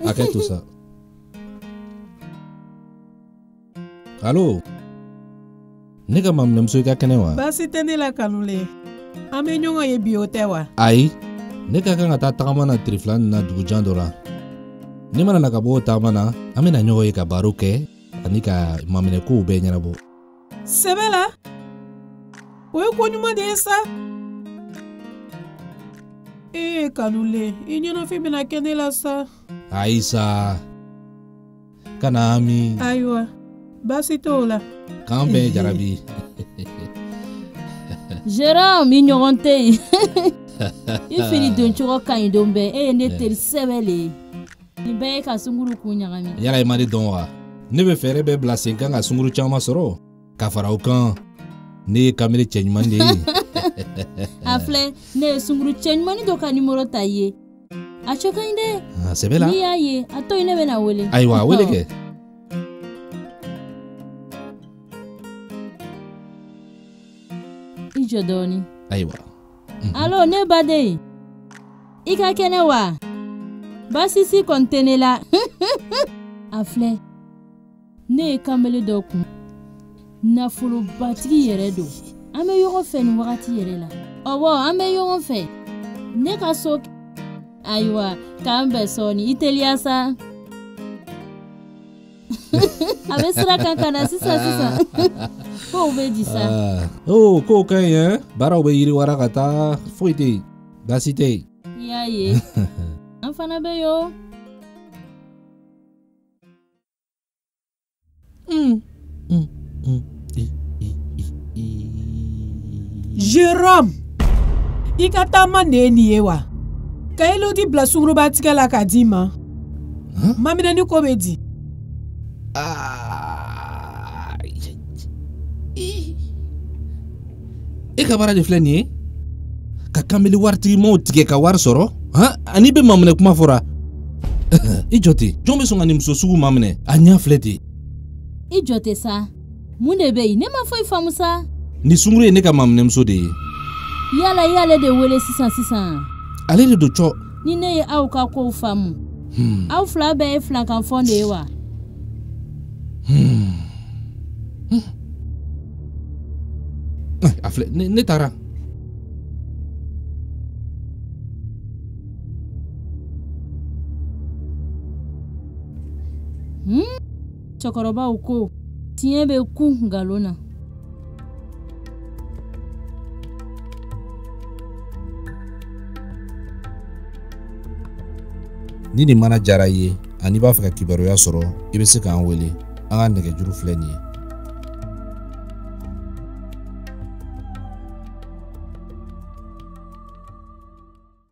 Arrête tout ça. Allô Ne ka maminɛmuso i ka kɛnɛ wa baasi tɛ ne la kanulen an bɛ ɲɔgɔn ye bi o tɛ wa ayi ne ka kan ka taa tagama na tile fila nin na dugujan dɔ la ne mana na ka bɔ o tagama na an bɛna ɲɔgɔn ye ka baro kɛ ani ka maminɛkow bɛɛ ɲɛnabɔ sɛbɛ la o ye ko ɲuman de ye sa ee kanulen i ɲɛnafin bɛna kɛ ne la sa ayi sa kana hami ayiwa baasi t'o la k'an bɛn jarabi Jérôme i ɲɔgɔn tɛ yen i fini doncogo ka ɲi don bɛɛ e ye ne teri sɛbɛ le ye nin bɛɛ ye ka sunguru kun ɲagami yala i ma ne dɔn wa ne bɛ fɛɛrɛ bɛɛ bila sen kan ka sunguru caman sɔrɔ ka fara o kan ne ye kanbele cɛɲumanin de ye a filɛ ne ye sunguru cɛɲumanin dɔ ka nimoro ta i ye a cɛ ka ɲi dɛ ah, sɛbɛ la n'i y'a ye a to yen ne bɛn'a wele ayiwa wele kɛ i jɔ dɔɔnin ayiwa mhm. alo ne baden i ka kɛnɛ wa baasi si kɔni tɛ ne la a filɛ ne ye kanbele dɔ kun nafolobatigi yɛrɛ don an bɛ ɲɔgɔn fɛ nin wagati yɛrɛ la ɔwɔ an bɛ ɲɔgɔn fɛ ne ka so ayiwa k'an bɛn sɔɔni i teliya sa a bɛ sira kan ka na sisan sisan kow bɛ di sa ah. o oh, kow ka ɲi ɛ baaraw bɛ yiriwara ka taa foyi tɛ yen baasi tɛ yen i y'a ye an fana bɛ yo Mm. Mm. Mm. Jérôme i ka taama de ye nin ye wa ka elodi bila sungurubatigɛ la ka d'i ma maminɛni ko bɛ di e ka baara de filɛ nin ye ka kanbele waritigimaw tigɛ ka wari sɔrɔ ani i bɛ maminɛ kuma fɔra i jɔ ten jɔn bɛ sɔn ka nin muso sugu maminɛ a ɲɛ filɛ ten i jɔ ten sa mun de bɛ yen ne ma foyi faamu sa nin sunguru ye ne ka maminɛmuso de ye yala i y'ale de wele sisan sisan ale de don cɔ ni ne ye aw ka kow faamu hmm. aw fila bɛɛ ye filankafo de ye wa hmm. Hmm. Eh, a filɛ ne taara Hmm? cɛkɔrɔbaw ko tiɲɛ bɛ kun nkalon na ni nin mana diyara i ye ani i b'a fɛ ka kibaruya sɔrɔ i bɛ se k'an wele an ka nɛgɛjuru filɛ nin ye